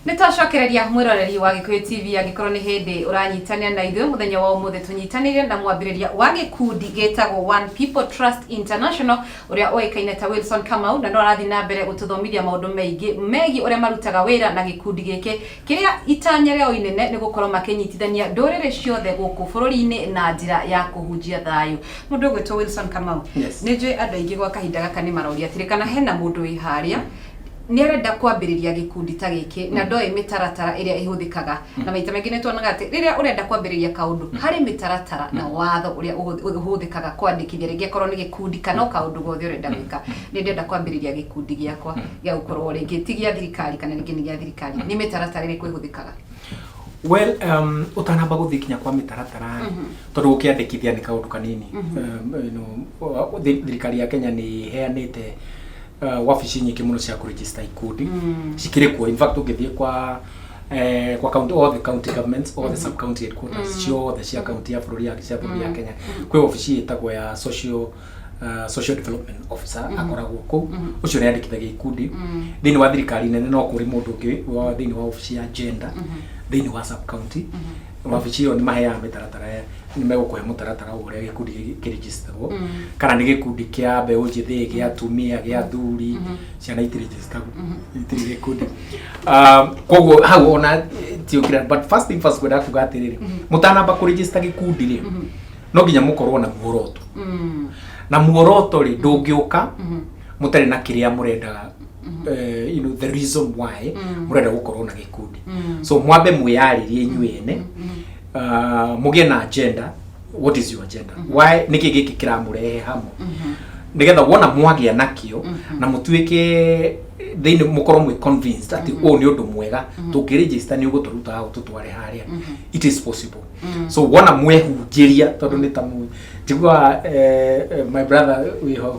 nĩtwacokereria mwĩroreri wa gĩkũyũ tv angĩkorwo nĩ hĩndĩ ũranyitanĩra na ithuĩ mũthenya wa ũmũthĩ tũnyitanĩire na mwambĩrĩria wa gĩkundi gĩtagwo one people trust international ũrĩa ũĩkaine ta Wilson Kamau, na no arathiĩ na mbere gũtũthomithia maũndũ maingĩ megiĩ ũrĩa marutaga wĩra na gĩkundi gĩkĩ, kĩrĩa itanya rĩao inene nĩ gũkorwo makĩnyitithania ndũrĩrĩ ciothe gũkũ bũrũri-inĩ na njĩra ya kũhunjia thayũ. Mũndũ ũgwĩtwo Wilson Kamau, Yes. nĩ njũĩ andũ aingĩ gwa kahinda gaka nĩ maroria atĩrĩ, kana hena mũndũ wĩ harĩa, nĩ arenda kwambĩrĩria gĩkundi ta gĩkĩ na ndoĩ mĩtaratara ĩrĩa ĩhũthĩkaga na maita maingĩ nĩ tuonaga atĩ rĩrĩa ũrenda kwambĩrĩria kaũndũ harĩ mĩtaratara na watho ũrĩa ũhũth- ũhũthĩkaga kwandĩkithia rĩngĩ akorwo nĩ gĩkundi kana o kaũndũ gothe ũrenda gwĩka nĩ ndĩrenda kwambĩrĩria gĩkundi gĩakwa gĩa gũkorwo rĩngĩ ti gĩa thirikari kana rĩngĩ nĩ gĩa thirikari nĩ mĩtaratara ĩrĩkũ ĩhũthĩkaga well um, ũtanamba gũthiĩ kinya kwa mĩtaratara tondũ gũkĩandĩkithia nĩ kaũndũ kanini um, you know, thi- thirikari ya kenya nĩ ĩheanĩte uh, wabici nyingĩ mũno cia kũregister ikundi mm. cikĩrĩ kuo in fact ũngĩthiĩ kwa eh, kwa county all the county governments all the sub county headquarters ciothe cia county ya bũrũri ya cia bũrũri ya Kenya kwĩ wabici ĩtagwo ya social uh, social development officer akoragwo kũu ũcio nĩ andĩkithagia ikundi thĩinĩ wa thirikari nene no kũrĩ mũndũ ũngĩ wa thĩinĩ wa wabici ya gender thĩinĩ wa sub county mabici ĩyo nĩ maheaga mĩtaratara ya- nĩ megũkũhe mũtaratara wa ũrĩa gĩkundi gĩkĩ kĩrĩnjĩcitagwo kana nĩ gĩkundi kĩa mbeũ njĩthĩ gĩa atumia gĩa athuri ciana itirĩnjĩcitagwo itirĩ gĩkundi Ah, koguo hau ona tiũkira but first thing first kwenda kuga atĩrĩrĩ mũtanamba kũrĩnjĩcita gĩkundi rĩ no nginya mũkorwo na muoroto na muoroto rĩ ndũngĩũka mũtarĩ na kĩrĩa mũrendaga eh, you know, the reason why murenda gukorwo na gikundi so mwambe mwiyaririe inyuĩ ene uh, mugie na agenda what is your agenda why niki giki kiramurehe hamwe nigetha wona mwagia nakio na mutuike thĩinĩ mũkorwo mwĩ convinced atĩ ũũ nĩ ũndũ mwega tũngĩrĩgĩsta nĩ ũgũtũruta hau tũtware harĩa it is possible so wona mwehunjĩria tondũ nĩ ta mũ njiguaga eh, eh, my brother wĩho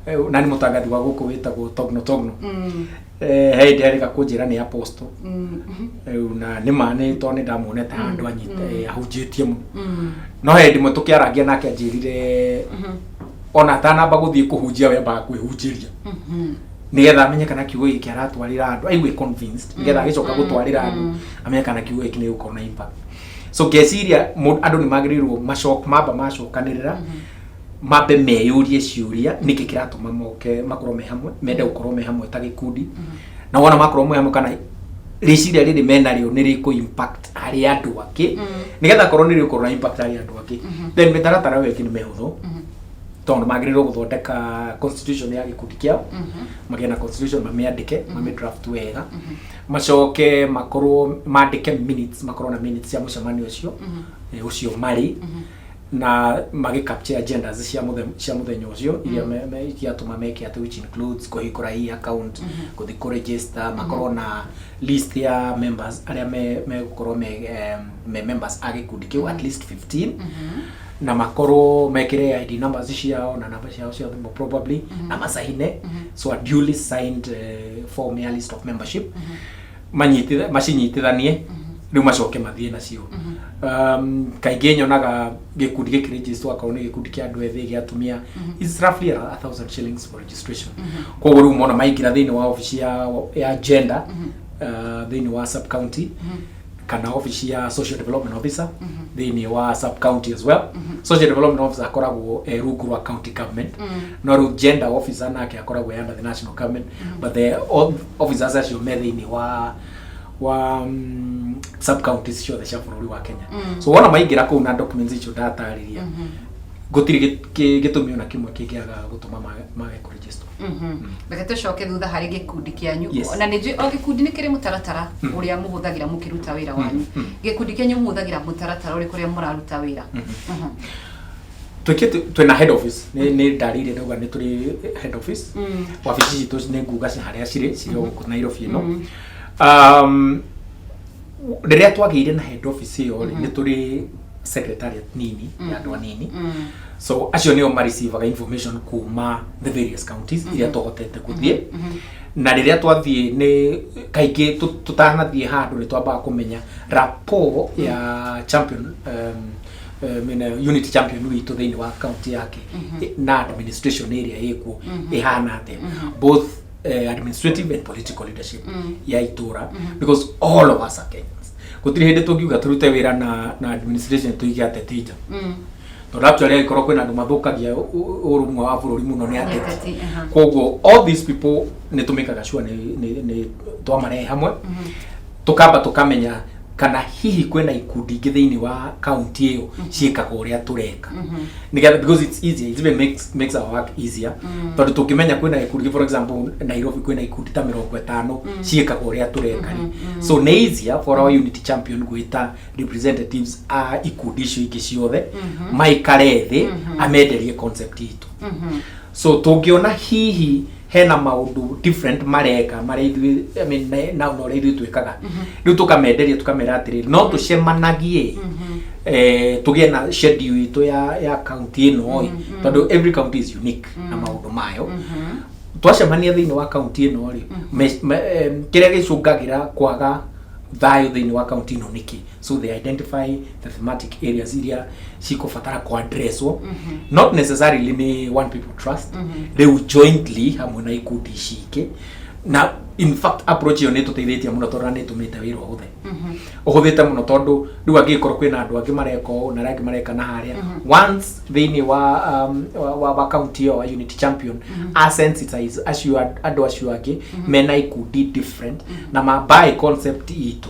Eh, na nĩ mũtangathi wa gũkũ wĩtagwo togno togno Mm, Eh, he hĩndĩ arĩka kũnjĩra nĩ aposto mm, rĩu na nĩ ma nĩ tondũ nĩ ndamuonete handũ anyita eh, ahunjĩtie mũno mm, no he hĩndĩ ĩmwe tũkĩarangia nake anjĩrire mhm, ona atanamba gũthiĩ kũhunjia wembaga kwĩhunjĩria mhm. nigetha amenye kana kiugo gĩkĩ kĩaratwarĩra andũ aigue convinced nigetha agĩcoka gũtwarĩra andũ amenye kana kiugo gĩkĩ nĩ gũkorwo na impact so ngeciria mũ- andũ nĩ magĩrĩirwo macoka mamba macokanĩrĩra mambe meyũrie ciũria nĩkĩ kĩratũma moke makorwo me hamwe mende gũkorwo me hamwe ta gĩkundi na wona makorwo me hamwe kana rĩciria rĩrĩ menarĩo nĩ rĩkũ impact harĩ andũ angĩ nĩgetha korwo nĩ rĩgũkorwo na impact harĩ andũ angĩ then mĩtaratara ĩyo ĩngĩ nĩ mĩhũthũ tondũ magĩrĩirwo gũthondeka constitution ya gĩkundi kĩao magĩe na constitution mamĩandĩke mamĩdraft wega macoke makorwo mandĩke minutes makorwo na minutes cia mũcemanio ũcio eh, ũcio marĩ na magä capture agendas cia mũthe- cia mũthenya ũcio iria me- me- ikiatũma meke atĩ which includes kũhingũra hii account gũthiĩ kũ register makorwo na list ya members arĩa me- megũkorwo me, em, me members a gĩkundi kĩu at least 15 na makorwo mekĩre id numbers ciao na namba ciao cia thimũ probably na macaine so a duly signed eh, form ya list of membership manyititha macinyitithanie rĩu macoke mathiĩ nacio um, kaingĩ nyonaga gĩkundi gĩkĩ register akorwo nĩ gĩkundi kĩa andũ ethĩ gĩa atumia is roughly around a thousand shillings for registration koguo rĩu mona maingĩra thĩinĩ wa obici ya, ya gender uh, thĩinĩ wa sub county kana obici ya social development officer thĩinĩ wa sub county as well social development officer akoragwo eh, rungu rwa county government no rĩu gender officer nake akoragwo eh, under the national government but the, all, officers acio me thĩinĩ wa wa mm, sub counties ciothe cia bũrũri wa Kenya Mm. so wona maingĩra kũu na documents icio ndatarĩria Mhm. gũtirĩ gĩ- kĩ- gĩtũmi ona kĩmwe kĩngĩaga gũtũma mage- mage kũ register Mhm. reke tũcoke thutha harĩ gĩkundi kĩanyu Yes. na nĩ njũĩ o gĩkundi nĩ kĩrĩ mũtaratara Mm. ũrĩa mũhũthagĩra mũkĩruta wĩra wanyu Mm. gĩkundi kĩanyu mũhũthagĩra mũtaratara ũrĩkũ ũrĩa mũraruta wĩra Mhm. twĩke twĩ na head office nĩ nĩ ndarĩire ndauga nĩ tũrĩ head office wabici citũ nĩ nguga ci harĩa cirĩ cirĩ o gũkũ Nairobi ĩno Um, rĩrĩa twagĩire na head office ĩyo rĩ, nĩ tũrĩ secretariat nini ya andũ anini so acio nĩo marĩcivaga information kuma the various counties iria tũhotete gũthiĩ na rĩrĩa twathiĩ nĩ kaingĩ tũ- tũtanathiĩ handũ nĩ twambaga kũmenya rapport ya champion um, eh, mĩena ĩyo, unit champion witũ thĩinĩ wa kaunti yake eh, na administration ĩrĩa ĩkuo ĩhana atĩa both eh, administrative and political leadership ya itũra because all of us are Kenyans gũtirĩ hĩndĩ tũngiuga tũrute wĩra na, na administration tũige ateti nja tondũ actually angĩkorwo kwĩna andũ mathũkagia ũ- ũ- ũrũmwe wa bũrũri mũno nĩ ateti Ateti, aha. koguo all these people nĩ tũmĩkaga sure nĩ- nĩ nĩ twamarehe hamwe tũkamba tũkamenya kana hihi kwĩna ikundi ingĩ thĩinĩ wa kaunti ĩyo ciĩkaga ũrĩa tũreka Nĩgetha- because it's easier it even makes, makes our work easier tondũ tũngĩmenya kwĩna ikundi for example nairobi kwĩna ikundi ta mĩrongo ĩtano ciĩkaga ũrĩa tũreka rĩ. so nĩ easier for our unity champion gwĩta representatives a ikundi icio ingĩ ciothe maikare thĩ amenderie concept itũ So tũngĩona hihi hena maũndũ different mareka marĩa ithuĩ I mean, me- na na ũrĩa ithuĩ twĩkaga rĩu tũkamenderia tũkamera atĩrĩrĩ no tũcemanagie eh, tũgĩe na schedule itũ ya ya county ĩno ĩ tondũ every county is unique na maũndũ mayo twacemania thĩinĩ wa kaunti ĩno rĩ me- me- em, kĩrĩa gĩcũngagĩra kwaga thayũ thĩinĩ wa kaunti ĩno nĩkĩ so they identify the thematic areas iria cikũbatara kũ addresswo not necessarily nĩ one people trust rĩu jointly hamwe na ikundi ici ingĩ na in fact approach ĩyo nĩ tũteithĩtie mũno tondũ nĩ tũmĩte wĩra ũhũthe ũhũthĩte mũno tondũ rĩu angĩkorwo kwĩna andũ angĩ mareka ũũ na arĩa angĩ mareka na harĩa once thĩinĩ wa um, wa- wa wa county ĩyo wa unity champion a sensitize acio and- andũ acio angĩ mena ikundi different na mabae concept itũ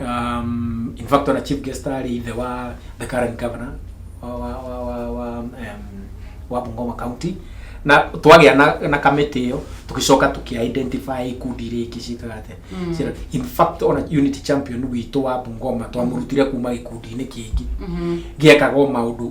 um, in fact ona chief guest arĩ ithe wa the current governor wa wa wa wa, wa, um, wa Bungoma county na twagĩa na, na kamĩtĩ ĩyo tũgĩcoka tũkĩ identify ikundi iria ingĩ ciĩkaga atĩa Mm. Cira- in fact ona unity champion witũ wa Bungoma twamũrutire kuma gĩkundi-inĩ kĩngĩ Mhm. gĩekaga o maũndũ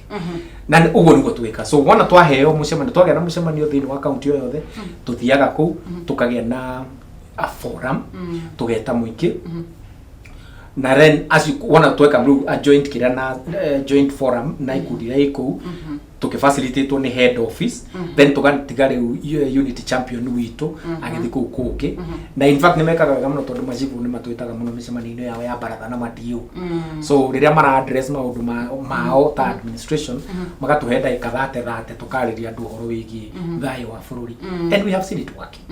na nĩ- ũguo nĩguo twĩka so wona twaheo mũcemanio twagĩa na mũcemanio thĩinĩ wa kaunti o yothe tũthiaga kũu tũkagĩa na a forum tũgeta mũingĩ na then as you, wona tweka rĩu a joint kĩrĩa na eh, joint forum na ikundi iria ĩ kũu tũkĩfacilitatewo nĩ head office then tũgatiga rĩu eh, unit champion witũ agĩthiĩ kũu kũngĩ na in fact nĩmekaga wega mũno tondũ macibu nĩ matwĩtaga mũno mĩcemanio-inĩ yao ya baratha na madiũ so rĩrĩa mara address maũndũ ma- mao ta administration magatũhe ndagĩka thate thate tũkarĩria andũ ũhoro wĩgiĩ thayũ wa bũrũri and we have seen it working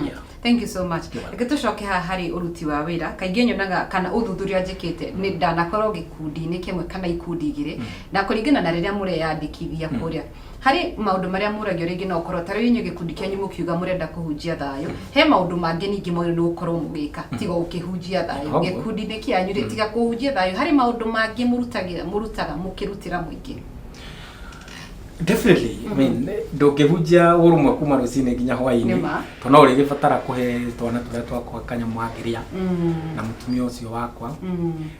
Yeah. thank you so much reke tũcoke haha harĩ ũruti wa wĩra kaingĩ nyonaga kana ũthuthuria njĩkĩte nĩ ndanakorwo gĩkundi-inĩ kĩmwe kana ikundi igĩrĩ na kũringana na rĩrĩa mũreyandĩkithia kũrĩa Harĩ maũndũ marĩa mũragio rĩngĩ no ũkorwo ta rĩu inyuĩ gĩkundi kĩanyu mũkiuga mũrenda kũhunjia thayũ, he maũndũ mangĩ ningĩ mwagĩrĩirwo nĩ gũkorwo mũgĩka tiga gũkĩhunjia thayũ Ũguo. gĩkundi-inĩ kĩanyu rĩ tiga kũhunjia thayũ harĩ maũndũ mangĩ mũrutagĩra mũrutaga mũkĩrutĩra mũingĩ definitely i mean ndũngĩhunjia ũrũmwe kuma rũcinĩ nginya hwainĩ Nĩ ma. to no ũrĩgĩbatara kũhe twana tũrĩa twakwa kanyamũ angĩrĩa na mũtumia ũcio wakwa Mm.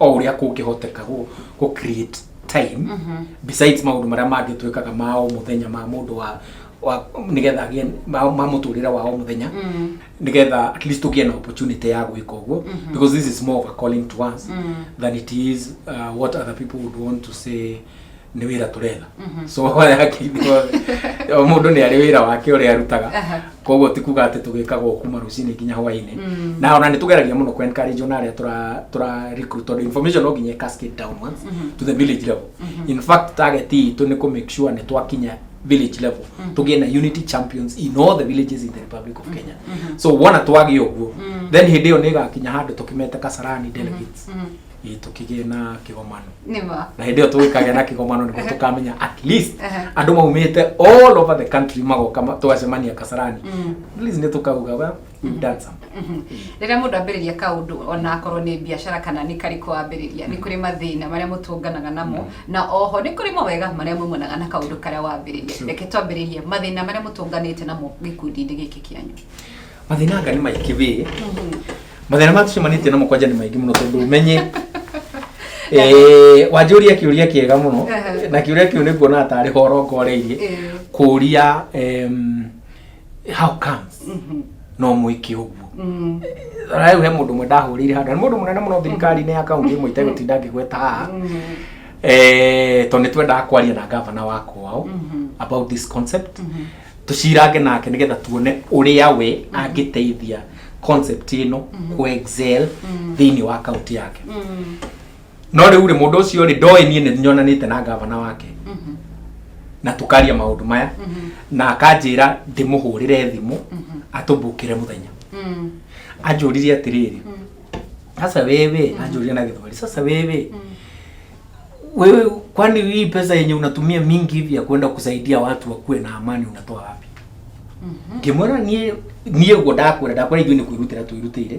o ũrĩa kũngĩhoteka gũ- gũ create time besides maũndũ marĩa mangĩ twĩkaga ma o mũthenya ma mũndũ wa wa- nĩgetha agĩe ma ma mũtũrĩre wa o mũthenya nĩgetha at least tũgĩe na opportunity ya gwĩka ũguo because this is more of a calling to us than it is uh, what other people would want to say nĩ wĩra tũretha Mhm. so haya hakiinĩ wothe o mũndũ nĩ arĩ wĩra wake ũrĩa arutaga Aha. koguo ti kuga atĩ tũgĩkaga o kuma rũcinĩ nginya hwainĩ Mm. na ona nĩ tũgeragia mũno kwencourage ona arĩa tũra- tũra recruit tondũ information no nginya cascade downwards Mhm. to the village level Mhm. in fact target itũ nĩ kũ make sure nĩ twakinya village level Mhm. tũgĩe na unity champions in all the villages in the republic of kenya Mhm. so wona twagĩa ũguo Mhm. then hĩndĩ ĩyo nĩ ĩgakinya handũ tũkĩmete kasarani delegates Mhm. ĩ tũkĩgĩe na kĩgomano nĩ ma na hĩndĩ ĩyo tũgĩkagĩa na kĩgomano nĩguo tũkamenya at least Ehe. andũ maumĩte all over the country magoka ma- tũgacemania kasarani Mm. at least nĩ tũkauga well we've done something Mhm. rĩrĩa mũndũ ambĩrĩria kaũndũ ona akorwo nĩ biacara kana nĩ karĩkũ wambĩrĩria nĩ kũrĩ mathĩna marĩa mũtũnganaga namo na oho nĩ kũrĩ mawega marĩa maumanaga na kaũndũ karĩa wambĩrĩria True. reke twambĩrĩrie mathĩna marĩa mũtũnganĩte namo gĩkundi-inĩ gĩkĩ kĩanyu mathĩna anga nĩ maingĩ wĩ mathĩna ma tũcemanĩtie namo kwanja nĩ maingĩ mũno tondũ ũmenye Eh, wanjũria kĩũria kĩega mũno Ehe. na kĩũria kĩu nĩ kuona tarĩ horo ngoreirie Eh. kũria em, how comes no mwĩke ũguo Mm. rĩu he mũndũ ũmwe ndahũrĩire handũ na nĩ mũndũ mũnene mũno thirikari-inĩ ya kaunti ĩmwe itegũtinda ngĩgweta haha Eh, tondũ nĩ twendaga kwaria na gavana wa kwao about this concept tucirange nake nigetha tuone uria we angiteithia concept ino ku excel thiini wa kaunti yake no riu ri mundu ucio ri ndoe nie ni nyonanite na gavana wake na tukaria maundu maya na akanjira ndimuhurire thimu atumbukire muthenya anjuririe atiriri sasa wewe anjuririe na githweri sasa wewe Wewe kwani hii pesa yenye unatumia mingi hivi ya kwenda kusaidia watu wakuwe na amani unatoa wapi? Kimwera nie nie ugo ndakwira ndakwira ithuĩ nĩ kwĩrutĩra twĩrutĩire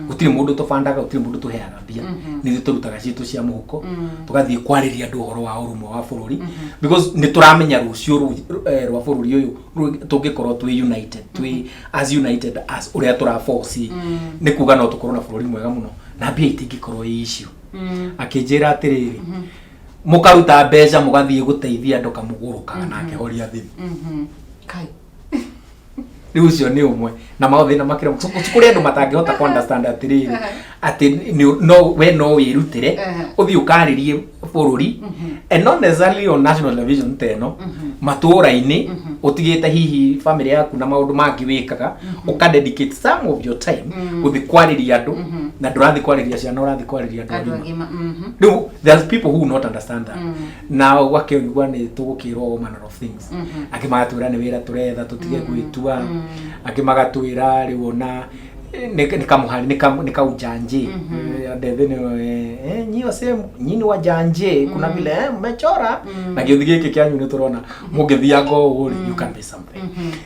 gũtirĩ mũndũ tũbandaga gũtirĩ mũndũ tũheaga mbia nĩ ithuĩ tũrutaga citũ cia mũhuko tũgathiĩ kwarĩria andũ ũhoro wa ũrũmwe wa bũrũri because nĩ tũramenya rũciũ rũ- eh, rwa bũrũri ũyũ rũ- tũngĩkorwo twĩ united twĩ as united as ũrĩa tũraboci nĩ kuga no tũkorwo na bũrũri mwega mũno na mbia itingĩkorwo ĩ icio akĩnjĩra atĩrĩrĩ mũkaruta mbeca mũgathiĩ gũteithia andũ kamũgũrũka na akĩhoria thĩ kai rĩu ũcio nĩ ũmwe na mathĩna makĩra kũrĩ andũ matangĩhota kũ understand atĩrĩrĩ atĩ nĩ- no we no wĩrutĩre Ehe. ũthiĩ ũkarĩrie bũrũri and not necessarily on national television ta ĩno matũũra-inĩ ũtigĩte hihi famĩlĩ yaku na maũndũ mangĩ wĩkaga uka dedicate some of your time Mm. guthi kwariria andu Mhm. na ndurathi kwariria ciana urathi kwariria andu andå agima agima mhm. riu there's people who will not understand that Mm. na gwakĩonigua nĩ tũgũkĩrwo all manner of things Mhm. angĩ magatwĩra nĩ wĩra tũretha tũtige gwĩtua Mm. angĩ magatwĩra rĩu ona nikaujanje Mhm. ndethĩnio nyio sehemu nyini wa janje kuna vile eh, mmechora Mm. na gĩũthi gĩkĩ kĩanyu nĩ tũrona mũngĩthianga ũũ rĩ, you can be something Mhm.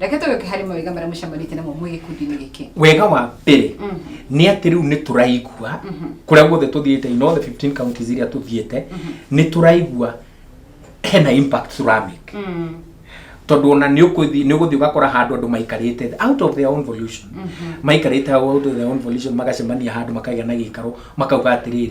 reke tũgĩũke harĩ mawega marĩa mũcemanĩtie namo mwĩ gĩkundi-inĩ gĩkĩ wega wa mbere Mhm. nĩ atĩ rĩu nĩ tũraigua Mhm. kũrĩa guothe tũthiĩte in all the 15 counties iria tũthiĩte nĩ tũraigua hena impact tũramake Mm. tondũ ona nĩ ũkũthi- nĩ ũgũthiĩ ũgakora handũ andũ maikarĩte thĩ, out of their own volition maikarĩte out of their own volition magacemania handũ makagĩa na gĩikaro makauga atĩrĩrĩ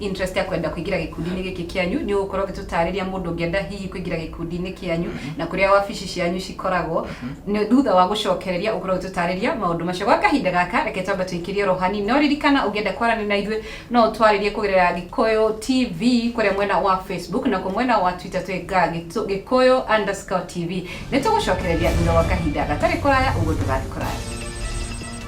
interest ya kwenda kuingira gikundi-inĩ gĩkĩ kĩanyu nĩ ũgũkorwo ũgĩtũtarĩria mũndũ ũngĩenda hihi kuingira gikundi-inĩ kĩanyu mhm. na kũrĩa wabici cianyu cikoragwo mhm. nĩ thutha wa gũcokereria ũkorwo ũgĩtũtarĩria maũndũ macio gwa kahinda gaka reke twamba tũikĩrie rohani no ririkana ũngĩenda kwaranĩria na ithuĩ no ũtwarĩrie kũgerera gĩkũyũ tv kũrĩa mwena wa facebook na mwena wa twitter twĩga gĩkũyũ underscore tv nĩ tũgũcokereria thutha wa kahinda gatarĩ kũraya ũguo ndũgathiĩ kũraya